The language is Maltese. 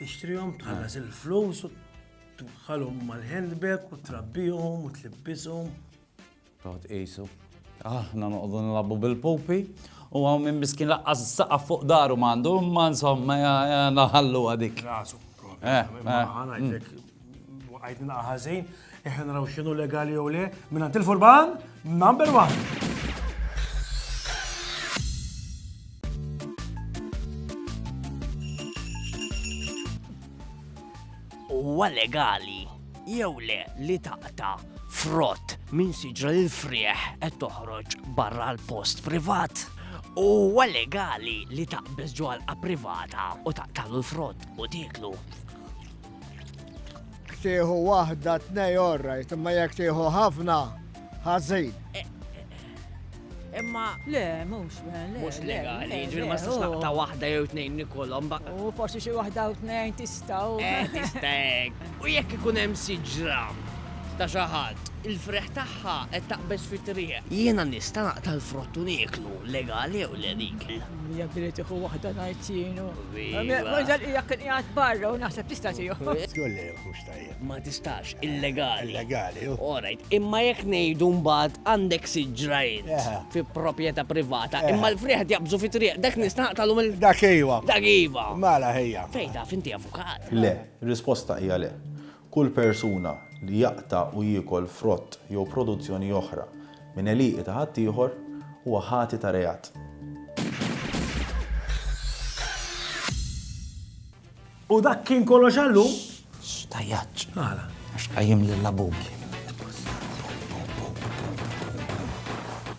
Tixtrihom, tħallas il-flus, tħallhom mal-handbag u trabbihom u tlibbishom. Toħt qisu. Aħna noqogħdu nilagħbu bil-pupi u għaw minn miskin laqqas saqa fuq daru mandu, ma insomma naħallu għadik. Rasu, eh, eh, mm. Waqajt naqa ħażin, eħen raw xinu legali jew le, minn għand il-furban, number one. Huwa legali jew le li taqta frott minn siġra l frieħ qed toħroġ barra l-post privat. Huwa legali li taqbeż ġwalqa privata u taqtalu l-frott u tiklu. Tieħu waħda tnej orrajt, imma jekk tieħu ħafna ħażin. Imma le, mhux mhux legali, ġifieri ma tistax naqta' waħda jew tnejn nikolhom ba. U forsi xi waħda u tnejn tistgħu. Eh, tistek. U jekk ikun hemm siġra ta' xi ħadd, il-freħ tagħha qed taqbeż fit-triq. Jiena nista' naqta' l-frott u nieklu, legali jew le dik. Mija billi tiħu waħda ngħid jienu. Maġal hija kien qiegħed barra u naħseb tista' tiegħu. Tgolli mhux tajjeb. Ma tistax illegali. Illegali. Orajt, imma jekk ngħidu mbagħad għandek siġrajn fi proprjetà privata, imma l-friħed jaqbżu fi triq, dak nistaqtalu mill. Dak iva. Dak iva. Mala ħejja. Fejda, finti avukat. Le, risposta hija le. Kull persuna li jaqta' u jiekol frott jew produzzjoni oħra minn għelieqi ta' ħaddieħor huwa ħati ta' reat. U dak kien kollox għal lum. X'tajjaġġ. Għala? Għax qajjimli l-labubu.